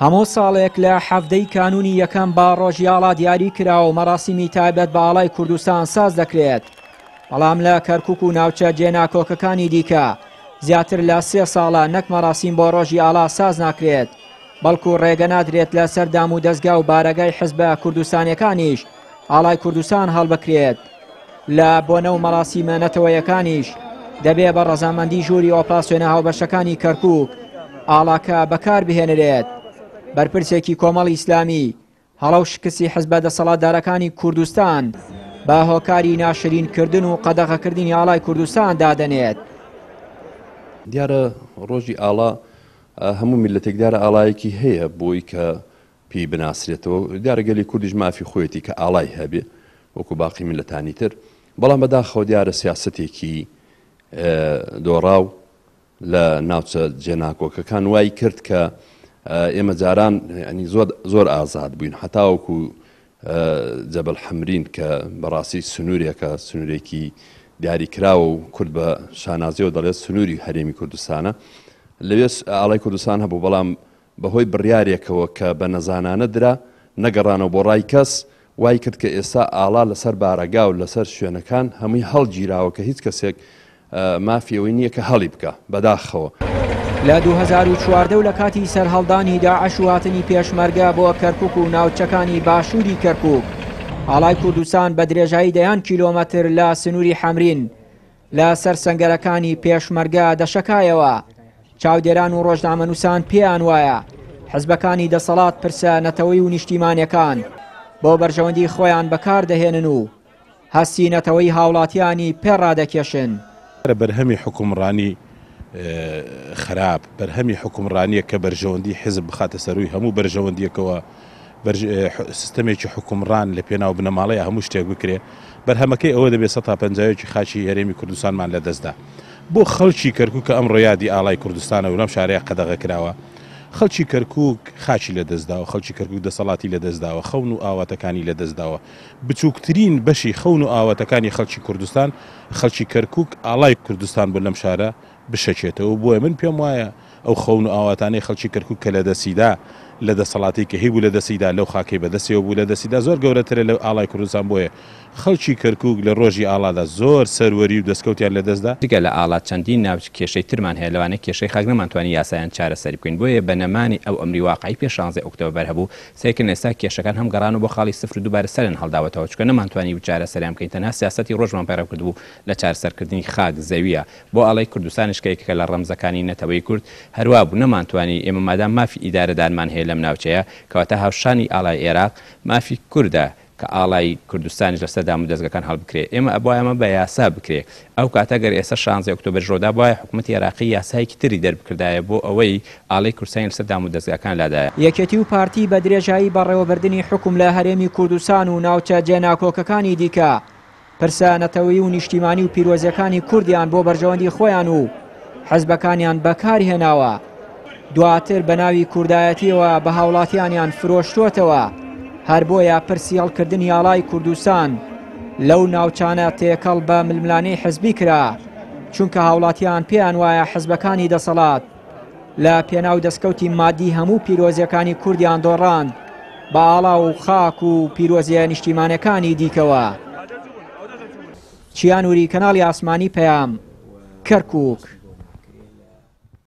هەموو ساڵێک لە حەڤدەی کانونی یەکەم با ڕۆژی ئاڵا دیاری کرا و مەڕاسیمی تایبەت بە ئاڵای کوردستان ساز دەکرێت بەڵام لە کەرکک و ناوچە جێناکۆکەکانی دیکە زیاتر لە سێ ساڵە نەک مەڕاسیم بۆ ڕۆژی ئاڵا ساز ناکرێت بەڵکو ڕێگە نادرێت لە سەردام و دەستگا و بارەگای حزبە کوردستانەکانیش ئاڵای کوردستان هەڵبکرێت لە بۆنە و مەراسیمە نەتەوەیەکانیش دەبێ بە ڕەزامەندی ژووری ئۆپراسسیۆنە هاوبەشەکانی کەرکک ئاڵاکە بەکار بهێنرێت بەرپرسێکی کۆمەڵ ئیسلامی هەڵە و شکستی حزبە دەسەڵاتدارەکانی کوردستان بە هۆکاری ناشرینکردن و قەدەغەکردنی ئاڵای کوردستان دادەنێت. دیارە ڕۆژی ئاڵا هەموو میلەتێکدارە ئاڵایەکی هەیە بۆی کە پێی بناسرێتەوە دیارە گەلی کوردیش مافی خۆیەتی کە ئاڵای هەبێ وەکو باقی میللەتانی تر بەڵام بەداخەوە دیارە سیاسەتێکی دۆڕاو لە ناوچە جێناکۆکەکان وای کرد کە ئێمە جاران ینی زۆر زۆر ئازاد بووین حتاوەکو جەبل حەمرین کە بەڕاستی سنوورێکە سنوورێکی دیاری کراوە و کورد بە شانازیەوە دەڵێت سنووری هەرێمی کوردستانە لەوێ ئاڵای کوردستان هەبوو بەڵام بەهۆی بڕیارێکەوە کە بە نەزانانە درا، نەگەڕانەوە بۆ ڕای کەس، وای کرد کە ئێستا ئاڵا لەسەر بارەگا و لەسەر شوێنەکان هەمووی هەڵگیراوە کە هیچ کەسێک مافی ئەوەی نییە کە هەڵی بکا. بەداخەوە. لە دوو هەزار و چواردە و لە کاتی سەرهەڵدانی داعش و هاتنی پێشمەرگە بۆ کەرکوک و ناوچەکانی باشووری کەرکوک، ئاڵای کوردستان بە درێژایی دەیان کیلۆمەتر لە سنووری حەمرین، لە سەر سەنگەرەکانی پێشمەرگە دەشەکایەوە. چاودێران و ڕۆژنامەنووسان پێیان وایە حزبەکانی دەسەڵات پرسە نەتەوەی و نیشتیمانەکان بۆ بەرژەوەندی خۆیان بەکاردەهێنن و هەستی نەتەوەی هاوڵاتیانی پێڕادەکێشن. بەرهەمی حوکمڕانی خراپ، بەرهەمی حوکمڕانییە کە بەرژەوەندی حزب بخاتە سەرووی هەموو بەرژەوەندییەکەوە. سیستەمێکی حوکمڕان لە پێناو بنەماڵەیە هەموو شتێک بکرێ، بەرهەمەکەی ئەوە دەبێ سەتا پەنجا یەکی خاکی هەرێمی کوردستانمان لە دەست دا. بۆ خەڵکی کەرکووک کە ئەمڕۆ یادی ئاڵای کوردستانە و لەم شارەیە قەدەغە کراوە، خەڵکی کەرکووک خاکی لە دەست داوە، خەڵکی کەرکووک دەسەڵاتی لە دەست داوە، خەون و ئاواتەکانی لە دەست داوە. بچووکترین بەشی خەون و ئاواتەکانی خەڵکی کوردستان، خەڵکی کەرکووک ئاڵای کوردستان بوون لەم شارە بشەکێتەوە بۆیە من پێم وایە ئەو خەون و ئاواتانەی خەڵکی کەرکوک کە لەدەستیدا لە دەسەڵاتی کە هیبوو لەدەستیدا لەو خاکەی بەدەستیەوە بوو لەدەستیدا زۆر گەورەترە لە ئاڵای کوردستان بۆیە خەڵکی کەرکوک لە ڕۆژی ئاڵادا زۆر سەروەری و دەستکەوتیان لەدەستدا. جگە لە ئاڵا چەندین ناوچ کێشەی ترمان هەیە لەوانە کێشەی خاک نەمانتوانی یاسایان چارەسەری بکەین بۆیە بە نەمانی ئەو ئەمری واقعی پێش شانزەی ئۆکتۆبەر هەبوو سەیرکردن ئێستا کێشەکان هەم گەڕانەوە بۆ خاڵی سفرو دوبارە سەریان هەڵداوەتەوە چونکە نەمانتوانی بوو چارەسەریان بکەین تەنها سیاسەتی ڕۆژمان پەیڕەو کردبوو لە چارەسەرکردنی خاک زەویە بۆ ئەڵێی کوردستانیش کە یەکێکە لە ڕەمزەکانی نەتەوەی کورد هەروا بوو نەمانتوانی ئێمە مادام مافی ئیدارەدانمان هەیە لەم ناوچەیە کەواتە هاوشانی ئاڵای ئێراق مافی کوردە کە ئاڵای کوردستانیش لەسەر دامودەزگەکان هەڵبکرێ ئێمە ئەبوایە ئەمە بە یاسا بکرێ ئەو کاتە گەر ئێستا شانزەی ئۆکتۆبەریش ڕۆدابوایە حکومەتی ئێراقی یاسایەکی تری دەربکردایە بۆ ئەوەی ئاڵای کوردستانی لەسەر دامودەزگاکان لادایە. یەکێتی و پارتی بە درێژایی بەڕێوەبردنی حوکم لە هەرێمی کوردستان و ناوچە جێناکۆکەکانی دیکە، پرسە نەتەوەیی و نیشتیمانی و پیرۆزەکانی کوردیان بۆ بەرژەوەندی خۆیان و حزبەکانیان بەکار هێناوە دواتر بە ناوی کوردایەتیەوە بە هاوڵاتیانیان فرۆشتۆتەوە هەر بۆیە پرسی هەڵکردنی یاڵای کوردستان لەو ناوچانە تێکەڵ بە ململانەی حزبی کرا چونکە هاوڵاتیان پێیان وایە حزبەکانی دەسەڵات لە پێناو دەستکەوتی مادی هەموو پیرۆزیەکانی کوردیان دۆڕاند بە ئاڵا و خاک و پیرۆزیە نیشتیمانەکانی دیکەوە چیانوری کەناڵی ئاسمانی پەیام کەرکک.